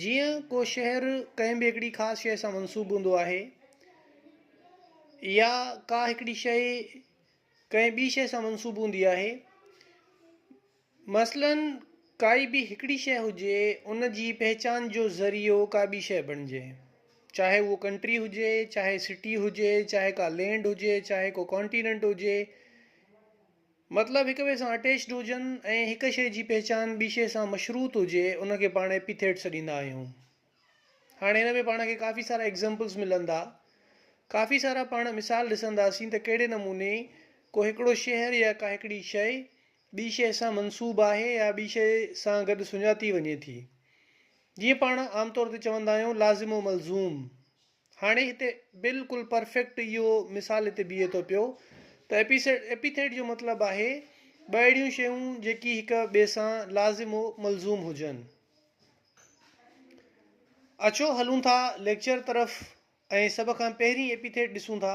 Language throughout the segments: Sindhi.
جيئن ڪو شهر ڪنهن به هڪڙي خاص شيء سان منسوب هوندو آهي يا ڪا هڪڙي شيء ڪنهن ٻي شيء سان منسوب هوندي آهي مثلاً ڪائي به هڪڙي شيء هجي ان جي پهچان جو ذريعو ڪا ٻي شيء بڻجي چاهي هو ڪنٽري هجي چاهي سٽي هجي چاهي ڪا لينڊ هجي چاهي ڪو ڪانٽيننٽ هجي مطلب هڪ ٻئي سان اٽيچڊ هجن ۽ هڪ شيء جي پهچان ٻي شيء سان مشروط هجي ان کي پاڻ ايپيٿيٽ سڏيندا آهيون. هاڻي هن ۾ پاڻ کي ڪافي سارا ايگزامپلز ملندا. ڪافي سارا پاڻ مثال ڏسنداسين ته ڪهڙي نموني ڪو هڪڙو شهر يا ڪا هڪڙي شيء ٻي شيء سان منسوب آهي يا ٻي شيء سان گڏ سڃاتي وڃي ٿي. جيئن پاڻ عام طور تي چوندا آهيون لازم و ملزوم. هاڻي هتي بلڪل پرفيڪٽ اهو مثال هتي بيهي ٿو پيو ته ايپيسيڊ ايپيٿيڊ جو مطلب آهي ٻه اهڙيون شيون جيڪي هڪ ٻئي سان لازم و ملزوم هجن. اچو هلون ٿا ليڪچر طرف ۽ سڀ کان پهرين ايپيٿيڊ ڏسون ٿا،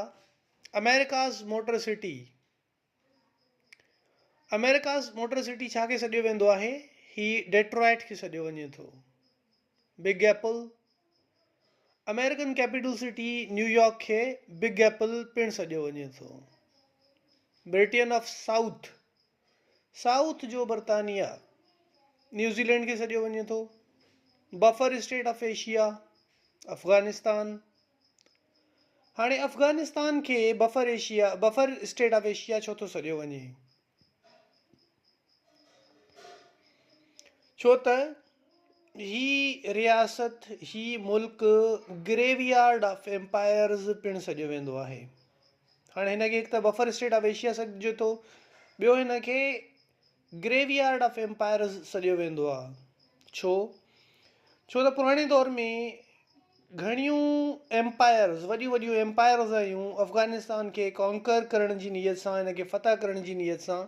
America's Motor City. America's motor city ڇا کي سڏيو ويندو آهي؟ هي ڊيٽرائيٽ کي سڏيو وڃي ٿو. Big apple, American capital city New York کي بگ ايپل پڻ سڏيو وڃي ٿو. برٽين آف سائوٿ، سائوٿ جو برطانيا، نيوزيلينڊ کي سڏيو وڃي ٿو. Buffer state of Asia, Afghanistan. هاڻي افغانستان کي buffer Asia, Buffer State of Asia، ڇو ٿو سڏيو وڃي؟ ڇو ته هي رياست، هي ملڪ گريو يارڊ آف ايمپائرز پڻ سڏيو ويندو آهي. هاڻي هن کي هڪ ته بفر اسٽيٽ آف ايشيا سڏجي ٿو، ٻيو هن کي گريو يارڊ آف ايمپائرز سڏيو ويندو آهي. ڇو؟ ڇو ته پراڻي دور ۾ گهڻيون ايمپائرز، وڏيون وڏيون ايمپائرز آيون افغانستان کي ڪانڪر ڪرڻ جي نيت سان، هن کي فتح ڪرڻ جي نيت سان،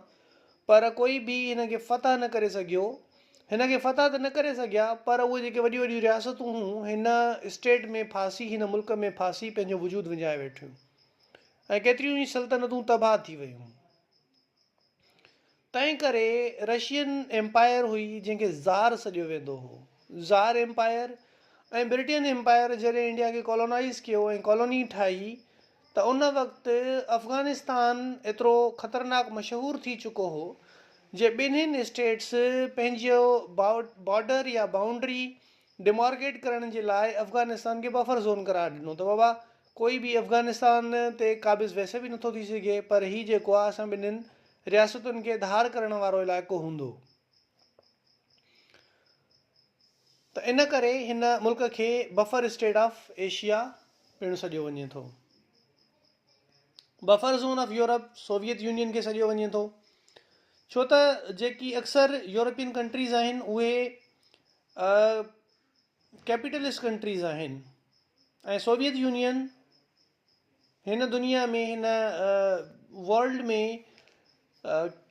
پر ڪوئي به هن کي فتح نه ڪري سگهيو. هن کي فتح ته نه ڪري سگهيا، پر اهي جيڪي وڏيون وڏيون رياستون هيون، هن اسٽيٽ ۾ ڦاسي، هن ملڪ ۾ ڦاسي پنهنجو وجود وڃائي ويٺيون ۽ ڪيتريون ئي سلطنتون تباهه ٿي ويون. تنهن ڪري رشين ايمپائر هئي جنهن کي زار سڏيو ويندو هو. زار ايمپائر ۽ برٽين ايمپائر جڏهن انڊيا کي ڪالونائيز ڪيو ۽ ڪالوني ٺاهي ته ان وقت افغانستان ايترو خطرناڪ مشهور ٿي چڪو هو جي ٻنهين اسٽيٽس پنهنجو بارڊر يا بائونڊري ڊيمارڪيٽ ڪرڻ جي لاء افغانستان کي بفر زون قرار ڏنو ته بابا ڪوئي به افغانستان تي قابض ويسي به نٿو ٿي سگهي پر هي جيڪو آهي اسان ٻنهين رياستن کي ڌار ڪرڻ وارو علائقو هوندو ته ان ڪري هن ملڪ کي بفر اسٽيٽ آف ايشيا پڻ سڏيو وڃي ٿو. Buffer zone of Europe Soviet Union کي سڏيو وڃي ٿو ڇو ته جيڪي اڪثر يورپين ڪنٽريز آهن اهي ڪيپيٽلسٽ ڪنٽريز آهن ۽ سوويت يونين هن دنيا ۾ هن ورلڊ ۾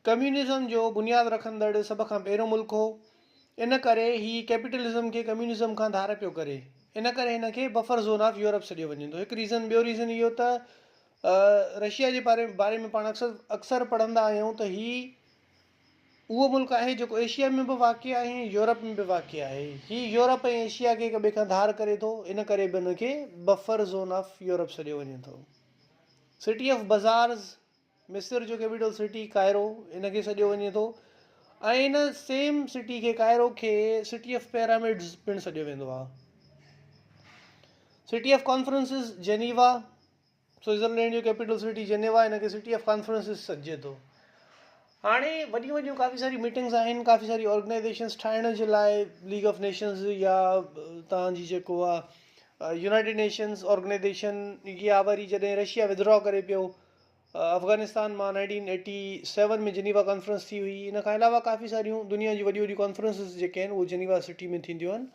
ڪميونزم جو بنياد رکندڙ سڀ کان پهريون ملڪ هو ان ڪري هي ڪيپيٽلزم کي ڪميونزم کان ڌار پيو ڪري ان ڪري هن کي بفر زون آف يورپ سڏيو وڃي ٿو هڪ ريزن ٻيو ريزن اهو ته رشيا جي باري باري ۾ پاڻ اڪثر اڪثر پڙهندا آهيون ته هي اهو ملڪ آهي جيڪو ايشيا ۾ به واقع آهي ۽ يورپ ۾ به واقع آهي. هي يورپ ۽ ايشيا کي هڪ ٻئي کان ڌار ڪري ٿو، ان ڪري به هن کي بفر زون آف يورپ سڏيو وڃي ٿو. سٽي آف بزارز، مصر جو ڪيپيٽل سٽي ڪائرو، ان کي سڏيو وڃي ٿو ۽ ان سيم سٽي کي ڪائرو کي سٽي آف پيرامڊز پڻ سڏيو ويندو آهي. City of conferences, Geneva. Switzerland جو ڪيپيٽل سٽي جنيوا هن کي سٽي آف ڪانفرنسز سڏجي ٿو هاڻي وڏيون وڏيون ڪافي ساري ميٽنگز آهن ڪافي ساري آرگنائزيشنز ٺاهڻ جي لاء ليگ آف نيشنز يا تان جي جيڪو آهي يونائيٽيڊ نيشنز آرگنائزيشن يا وري جڏهن رشيا ودرا ڪري پيو افغانستان مان nineteen eighty seven ۾ Geneva conference ٿي هئي ان کان علاوه ڪافي ساريون دنيا جون وڏيون وڏيون ڪانفرنسز جيڪي آهن اهو جنيوا سٽي ۾ ٿينديون آهن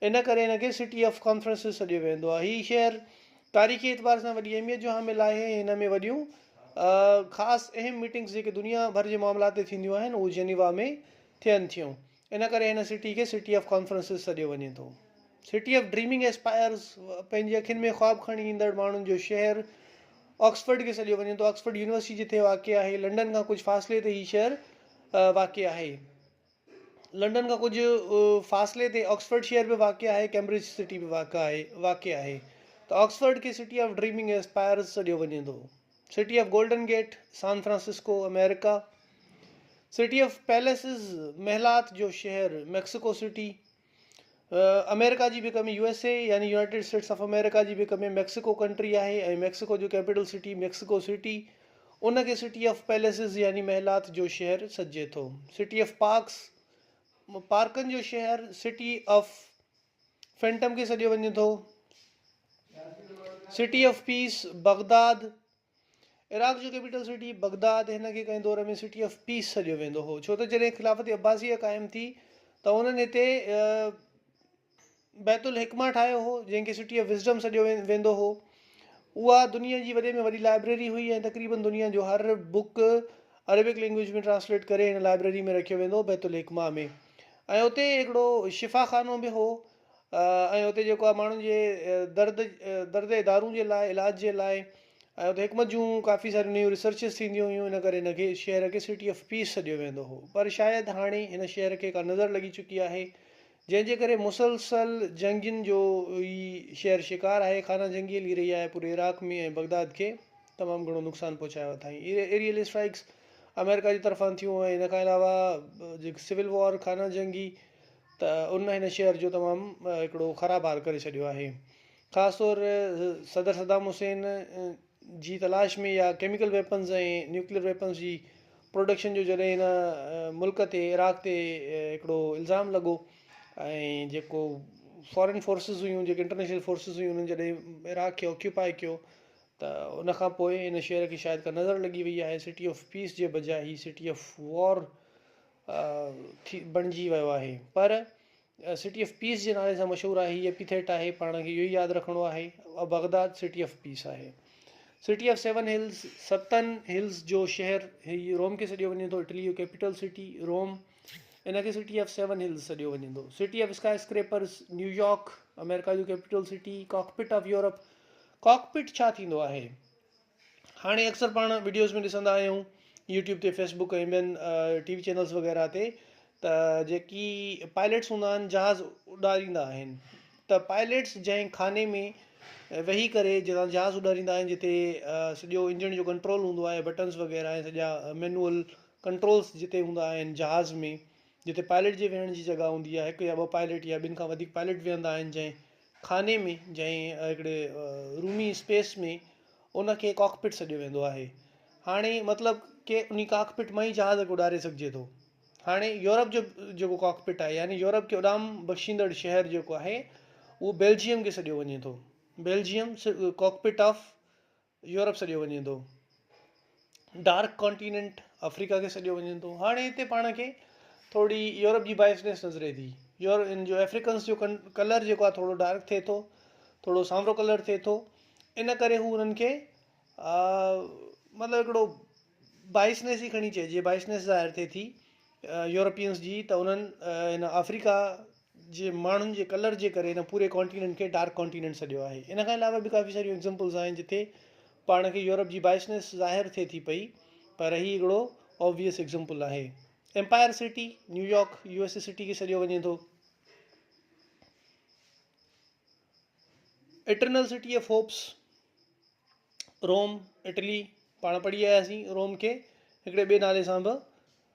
ان ڪري هن کي سٽي آف ڪانفرنسز سڏيو ويندو آهي. هي شهر تاريخي اعتبار سان وڏي اهميت جو حامل آهي ۽ هن ۾ وڏيون خاص اهم ميٽنگز جيڪي دنيا ڀر جي معاملات تي ٿينديون آهن اهو جنيوا ۾ ٿين ٿيون ان ڪري هن سٽي کي سٽي آف ڪانفرنسز سڏيو وڃي ٿو. سٽي آف ڊريمنگ ايسپائرز پنهنجي اکين ۾ خواب کڻي ايندڙ ماڻهن جو شهر آڪسفرڊ کي سڏيو وڃي ٿو آڪسفرڊ يونيورسٽي جتي واقع آهي لنڊن کان ڪجهه فاصلي تي هي شهر واقع آهي. لنڊن کان ڪجهه فاصلي تي آڪسفورڊ شهر به واقع آهي، ڪيمبرج سٽي به واقع آهي واقع آهي ته آڪسفورڊ کي سٽي آف ڊريمنگ ۽ اسپائرز سڏيو وڃي ٿو. City of golden gate, San Francisco, America. City of palaces, محلات جو شهر، ميڪسيڪو سٽي. امريڪا جي ڀيڪ ۾ USA يعني يونائيٽيڊ اسٽيٽس آف امريڪا جي ڀيڪ ۾ ميڪسيڪو ڪنٽري آهي ۽ ميڪسيڪو جو ڪيپيٽل سٽي ميڪسيڪو سٽي ان کي سٽي آف پيليسز يعني محلات جو شهر سڏجي ٿو سٽي آف پارڪس پارڪن جو شهر سٽي آف فينٽم کي سڏيو وڃي ٿو city of peace Baghdad Iraq جو ڪيپيٽل سٽي بغداد هن کي ڪنهن دور ۾ سٽي آف پيس سڏيو ويندو هو ڇو ته جڏهن خلافت عباسيه قائم ٿي ته انهن هتي بيت الحڪمه ٺاهيو هو جنهن کي سٽي آف وزڊم سڏيو ويندو هو اها دنيا جي وڏي ۾ وڏي لائبريري هئي ۽ تقريبن دنيا جو هر بوڪ عربڪ لينگويج ۾ ٽرانسليٽ ڪري هن لائبريري ۾ رکيو ويندو هو بيت الحڪمه ۾ ۽ اتي هڪڙو شفا خانو به هو ۽ اتي جيڪو آهي ماڻهن جي درد درد جي دارون جي لاء علاج جي لاء ۽ اتي حڪمت جون ڪافي ساريون نيون ريسرچز ٿينديون هيون ان ڪري هن کي شهر کي سٽي آف پيس سڏيو ويندو هو پر شايد هاڻي هن شهر کي ڪا نظر لڳي چڪي آهي جنهن جي ڪري مسلسل جنگين جو هي شهر شڪار آهي خانه جنگي هلي رهي آهي پوري عراق ۾ ۽ بغداد کي تمام گهڻو نقصان پهچايو اٿائين ايريل اسٽرائڪس آمريڪا جي طرفان ٿيون ۽ ان کان علاوه جيڪي سول وار خانه جنگي ته ان هن شهر جو تمام هڪڙو خراب حال ڪري ڇڏيو آهي خاص طور صدر صدام حسين جي تلاش ۾ يا ڪيميڪل ويپنز ۽ نيوڪليئر ويپنز جي پروڊڪشن جو جڏهن هن ملڪ تي عراق تي هڪڙو الزام لڳو ۽ جيڪو فارين فورسز هيون جيڪي انٽرنيشنل فورسز هيون انهن جڏهن عراق کي آڪيوپائي ڪيو ته ان کان پوء ان شهر کي شايد ڪا نظر لڳي وئي آهي سٽي آف پيس جي بجاء هي سٽي آف وار ٿي بڻجي ويو آهي پر سٽي آف پيس جي نالي سان مشهور آهي هي ايپيٿيٽ آهي پاڻ کي اهو ئي ياد رکڻو آهي بغداد سٽي آف پيس آهي سٽي آف سيون هلز ستن هلز جو شهر هي روم کي سڏيو وڃي ٿو اٽلي جو ڪيپيٽل سٽي روم ان کي سٽي آف سيون هلز سڏيو وڃي ٿو city of skyscrapers New York امريڪا جو capital city cockpit of Europe cockpit ڇا ٿيندو آهي هاڻي اڪثر پاڻ وڊيوز ۾ ڏسندا آهيون يوٽيوب تي فيس بڪ ۽ ٻين ٽي وي چينلز وغيره تي ته جيڪي پائليٽس هوندا آهن جهاز اڏاريندا آهن ته پائليٽس جنهن خاني ۾ ويهي ڪري جتان جهاز اڏاريندا آهن جتي سڄو انجڻ جو ڪنٽرول هوندو آهي بٽنز وغيره ۽ سڄا مينوئل ڪنٽرولز جتي هوندا آهن جهاز ۾ جتي پائليٽ جي ويهڻ جي جڳهه هوندي آهي هڪ يا ٻه پائليٽ يا ٻن کان وڌيڪ پائليٽ ويهندا آهن جنهن خاني ۾ جنهن هڪڙي رومي اسپيس ۾ ان کي ڪاڪ پٽ سڏيو ويندو آهي هاڻي مطلب ڪي انهي ڪاڪ پٽ مان ئي جهاز کي اڏاري سگهجي ٿو هاڻي يورپ جو جيڪو ڪاڪ پٽ آهي يعني يورپ کي اڏام بخشيندڙ شهر جيڪو آهي اهو بيلجيم کي سڏيو وڃي ٿو Belgium cockpit of Europe سڏيو وڃي ٿو. ڊارڪ ڪانٽيننٽ آفريڪا کي سڏيو وڃي ٿو. هاڻي هتي پاڻ کي ٿورڙي يورپ جي بائسنيس نظري ٿي. يور ان جو افريڪنس جو ڪن ڪلر جيڪو آهي ٿورڙو ڊارڪ ٿئي ٿو. ٿورڙو سانورو ڪلر ٿئي ٿو. ان ڪري هو انهن کي مطلب هڪڙو بائسنيس ئي کڻي چئجي بائسنيس ظاهر ٿئي ٿي يورپينس جي ته انهن هن آفريڪا جي ماڻهن جي ڪلر جي ڪري هن پوري ڪانٽيننٽ کي ڊارڪ ڪانٽيننٽ سڏيو آهي. ان کان علاوه به ڪافي ساريون ايگزمپلز آهن جتي پاڻ کي يورپ جي بائسنيس ظاهر ٿئي ٿي پئي پر هي هڪڙو آبويس ايگزمپل آهي. Empire city, New York, U S A city کي سڏيو وڃي ٿو. Eternal city of hopes, Rome, Italy, پاڻ پڙهي آياسين روم کي هڪڙي ٻئي نالي سان به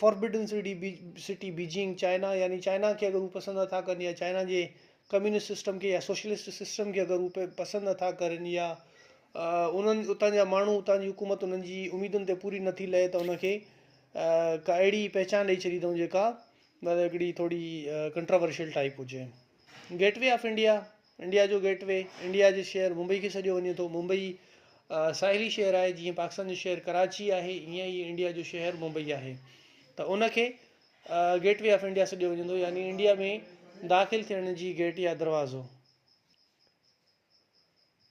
forbidden city, City، Beijing, China يعني چائنا کي اگر هو پسند نه ٿا ڪرن يا چائنا جي ڪميونسٽ سسٽم کي يا سوشلسٽ سسٽم کي اگر هو پسند نه ٿا ڪرن يا انهن اتان جا ماڻهو اتان جي حڪومت انهن جي اميدن تي پوري نه ٿي لهي ته ان کي ڪا اهڙي پهچان ڏئي ڇڏي اٿئون جيڪا مطلب هڪڙي ٿورڙي ڪنٽراورشل ٽائپ هجي gateway of India India جو گيٽ وي، انڊيا جي شهر ممبئي کي سڏيو وڃي ٿو. ممبئي ساحلي شهر آهي، جيئن پاڪستان جو شهر ڪراچي آهي، ايئن ئي انڊيا جو شهر ممبئي آهي ته ان کي گيٽ وي آف انڊيا سڏيو وڃي ٿو يعني انڊيا ۾ داخل ٿيڻ جي گيٽ يا دروازو.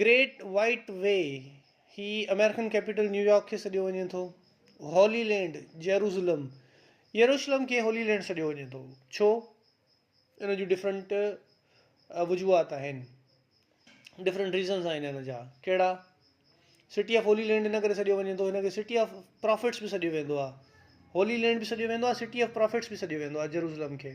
گريٽ وائيٽ وي، هي آمريڪن ڪيپيٽل نيويارڪ کي سڏيو وڃي ٿو. هولي لينڊ، جيروسلم، يروشلم کي هولي لينڊ سڏيو وڃي ٿو. ڇو؟ ان جون ڊفرنٽ وجوهات آهن. ڊفرنٽ ريزنس آهن ان جا. ڪهڙا؟ سٽي آف هولي لينڊ ان ڪري سڏيو وڃي ٿو ان کي سٽي آف پرافٽس به سڏيو ويندو آهي. هولي لينڊ به سڏيو ويندو آهي سٽي آف پرافٽس به سڏيو ويندو آهي جيروسلم کي.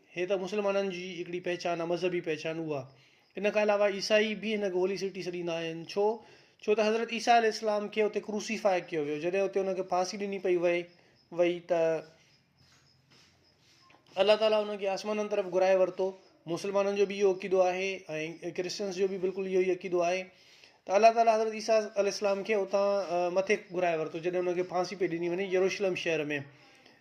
هي ته مسلمانن جي هڪڙي پهچان آ مذهبي پهچان اها ان کان علاوه عيسائي به هن کي هولي سٽي سڏيندا آهن ڇو ڇو ته حضرت عيسيٰ عليه السلام کي اتي ڪروسيفاء ڪيو ويو جڏهن اتي ان کي ڦاسي ڏني پئي وئي وئي ته الله تعاليٰ ان کي آسمانن طرف گهرائي ورتو مسلمانن جو به اهو عقيدو آهي ۽ ڪرسچنس جو به بلڪل اهو ئي عقيدو آهي ته الله تعاليٰ حضرت عيسيٰ عليه السلام کي اتان مٿي گهرائي ورتو جڏهن ان کي ڦاسي پئي ڏني وڃي يروشلم شهر ۾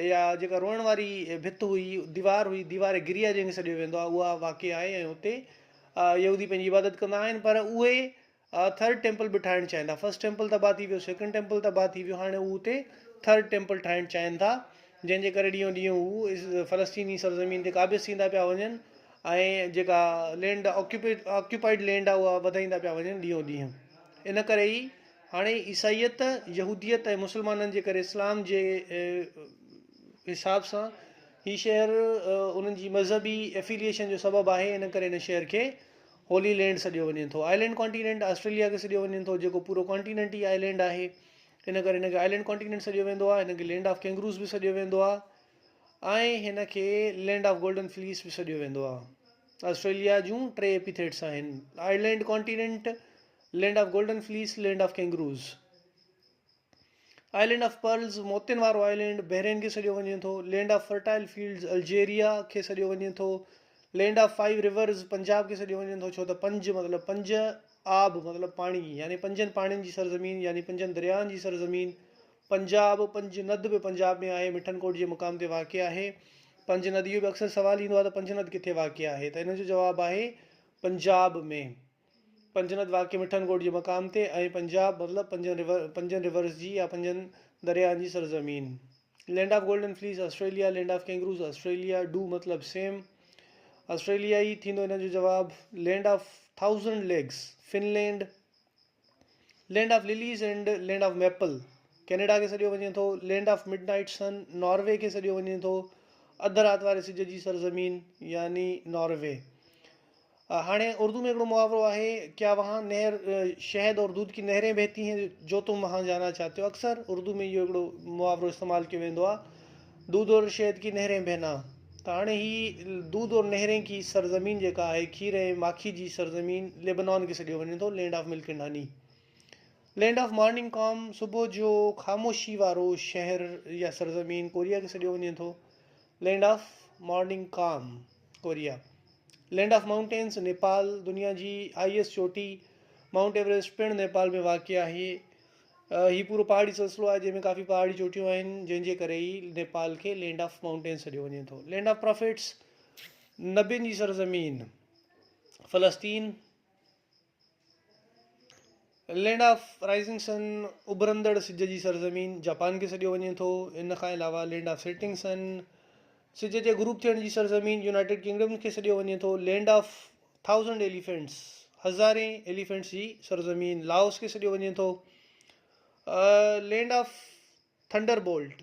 اها جيڪا روئڻ واري ڀت هئي، ديوار هئي، ديوار گريا جنهن کي سڏيو ويندو آهي، اها واقع آهي ۽ اتي يهودي پنهنجي عبادت ڪندا آهن پر اهي ٿرڊ ٽيمپل به ٺاهڻ چاهين ٿا. فرسٽ ٽيمپل تباهه ٿي ويو، سيڪنڊ ٽيمپل تباهه ٿي ويو، هاڻي هو اتي ٿرڊ ٽيمپل ٺاهڻ چاهين ٿا جنهن جي ڪري ڏينهون ڏينهن هو فلسطيني سرزمين تي قابض ٿيندا پيا وڃن ۽ جيڪا لينڊ آڪيوپائيڊ لينڊ آهي اها وڌائيندا پيا وڃن ڏينهون ڏينهن ان ڪري ئي هاڻي عيسائيت، يهوديت ۽ مسلمانن جي ڪري اسلام جي حساب سان هي شهر انهن جي مذهبي افيليئيشن جو سبب آهي ان ڪري هن شهر کي هولي لينڊ سڏيو وڃي ٿو. آئلينڊ ڪانٽينينٽ، آسٽريليا کي سڏيو وڃي ٿو جيڪو پورو ڪانٽينينٽ ئي آئلينڊ آهي ان ڪري هن کي آئلينڊ ڪانٽينينٽ سڏيو ويندو آهي هن کي لينڊ آف ڪينگروز به سڏيو ويندو آهي ۽ هن کي لينڊ آف گولڊن فليس به سڏيو ويندو آهي آسٽريليا جون ٽي ايپيٿيٽس آهن island continent land of golden fleece, land of kangaroos, island of pearls, موتين وارو آئلينڊ، بحرين کي سڏيو وڃي ٿو، land of fertile fields, Algeria کي سڏيو وڃي ٿو، land of five rivers, Punjab کي سڏيو وڃي ٿو ڇو ته پنج مطلب پنج آب مطلب پاڻي يعني پنجن پاڻين جي سرزمين يعني پنجن درياهن جي سرزمين، پنجاب، پنج ند به پنجاب ۾ آهي، مٺن ڪوٽ جي مقام تي واقع آهي، پنج ند اهو به اڪثر سوال ايندو آهي ته پنج ند ڪٿي واقع آهي ته ان جو جواب آهي پنجاب ۾. پنجنت واقعي مٺن ڳوٺ جي مقام تي ۽ پنجاب مطلب پنجن رورس جي يا پنجن درياهن جي سرزمين. Land of golden fleece Australia land of kangaroos Australia ڊو مطلب سيم آسٽريليا ئي ٿيندو ان جو جواب land of thousand lakes Finland land of lilies and land of maple Canada کي سڏيو وڃي ٿو land of midnight sun Norway کي سڏيو وڃي ٿو اڌ رات واري سج جي سرزمين يعني ناروي. هاڻي اردو ۾ هڪڙو محاورو آهي، ڪيا وهان نهر شهد اور دودھ ڪي نهرين بهتي هين جو تم وهان جانا چاهتي هو اڪثر اردو ۾ اهو هڪڙو محاورو استعمال ڪيو ويندو آهي دودھ اور شهد ڪي نهرين بهنا ته هاڻي هي دودھ اور نهرين ڪي سرزمين جيڪا آهي کير ۽ ماکي جي سرزمين ليبنان کي سڏيو وڃي ٿو land of milk and honey land of morning calm صبح جو خاموشي وارو شهر يا سرزمين ڪوريا کي سڏيو وڃي ٿو land of morning calm Korea, land of mountains, Nepal, دنيا جي آء ايس چوٽي مائونٽ ايوريسٽ پڻ نيپال ۾ واقع آهي. هي پورو پهاڙي سلسلو آهي جنهن ۾ ڪافي پهاڙي چوٽيون آهن جنهن جي ڪري ئي نيپال کي لينڊ آف مائونٽينز سڏيو وڃي ٿو. لينڊ آف پرافيٽس، نبين جي سرزمين، فلسطين، لينڊ آف رائزنگ سن، اڀرندڙ سج جي سرزمين، جاپان کي سڏيو وڃي ٿو. ان کان علاوه لينڊ آف سيٽنگ سن، سج جي غروب ٿيڻ جي سرزمين، يونائيٽيڊ ڪنگڊم کي سڏيو وڃي ٿو. لينڊ آف ٿائوزنڊ ايليفينٽس، هزارين ايليفينٽس جي سرزمين، لاوس کي سڏيو وڃي ٿو. لينڊ آف ٿنڊر بولٽ،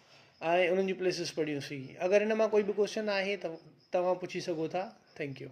۽ انهن جون پليسز پڙهيون سين اگر ان مان ڪوئي به ڪوسچن آهي ته توهان پڇي سگهو ٿا ٿينڪ يو.